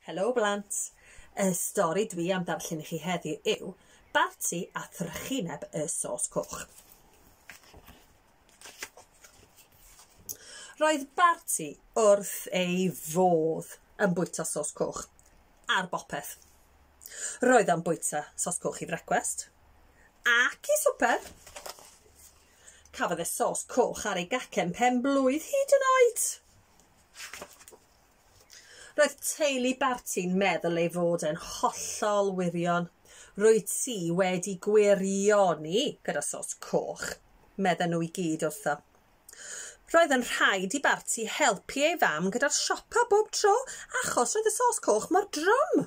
Helo blant! Y stori dwi am darllen i chi heddiw yw Barti a Thrychineb y Sos Coch. Roedd Barti wrth ei fodd yn bwyta sos coch ar bopeth. Roedd o'n bwyta sos coch i frecwest ac i swper. Cafodd e sos coch ar ei gacen pen blwydd hyd yn oed. Roedd teulu Barti'n meddwl ei fod e'n hollol wirion. Rwyt ti wedi gwirioni gyda sos coch, medden nhw i gyd wrtho. Roedd yn rhaid i Barti helpu ei fam gyda'r siopa bob tro achos roedd y sos coch mor drwm.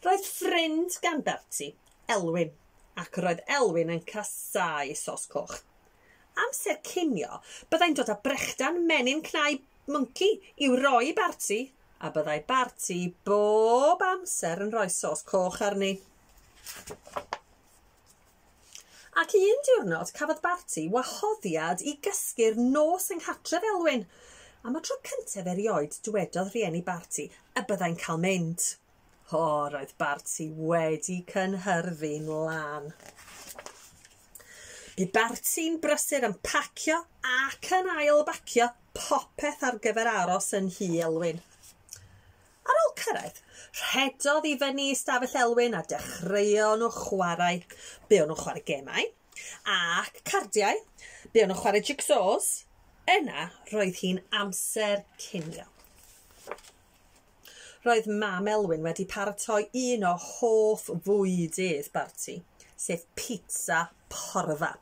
Roedd ffrind gan Bertie, Elwyn, ac roedd Elwyn yn casáu sos coch. Amser cinio, byddai'n dod â brechdan menyn cnau mwnci i'w roi i Barti, a byddai Barti bob amser yn rhoi sos coch arni. Ac un diwrnod cafodd Barti wahoddiad i gysgu'r nos yng nghartref Elwyn. Am y tro cyntaf erioed dwedodd rhieni Barti y byddai'n cael mynd. O, roedd Barti wedi cynhyrfu'n lân. Bu Barti'n brysur yn pacio ac yn ail bacio popeth ar gyfer aros yn nhŷ Elwyn. Ar ôl cyrraedd, rhedodd i fyny i stafell Elwyn a dechreuon nhw chwarae. Buon nhw'n chwarae gemau ac cardiau, buon nhw'n chwarae jigsaws, yna roedd hi'n amser cinio. Roedd mam Elwyn wedi paratoi un o hoff fwydydd Barti, sef pizza porfa.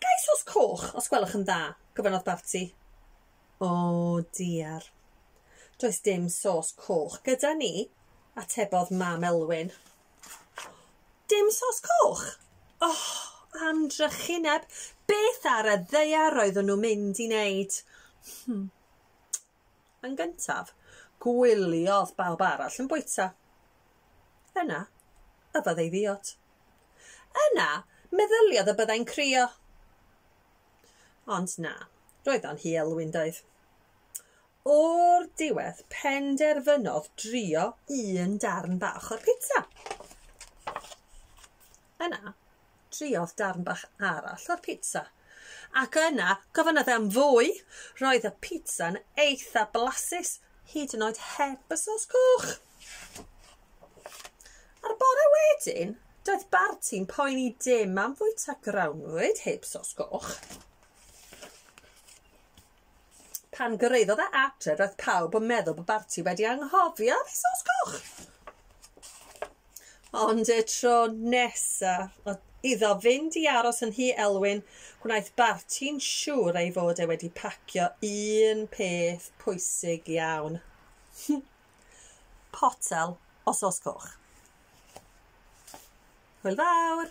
Gais os coch, os gwelwch yn dda, gofynnodd Barti. O diar. Does dim sos coch gyda ni, atebodd Mam Elwyn. Dim sos coch? O! Am drychineb! Beth ar y ddaear roeddwn nhw'n mynd i wneud? Hmm. Yn gyntaf, gwyliodd bawb arall yn bwyta. Yna, y byddai ddiod. Yna, meddyliodd y byddai'n crio. Ond na, roedd o'n hi Elwyn doedd? O'r diwedd penderfynodd drio un darn bach o'r pizza. Yna, triodd darn bach arall o'r pizza. Ac yna, gofynnodd e am fwy. Roedd y pizza'n eitha blasus, hyd yn oed heb y sos coch. Ar y bore wedyn, Doedd Barti'n poeni dim am fwyta grawnwyd heb sos goch. Pan gyrraeddodd e adre, roedd pawb yn meddwl bod Barti wedi anghofio am ei sos goch. Ond y tro nesa, oedd iddo fynd i aros yn Nhŷ Elwyn, gwnaeth Barti'n siŵr ei fod e wedi pacio un peth pwysig iawn. potel o sos coch. Hwyl fawr!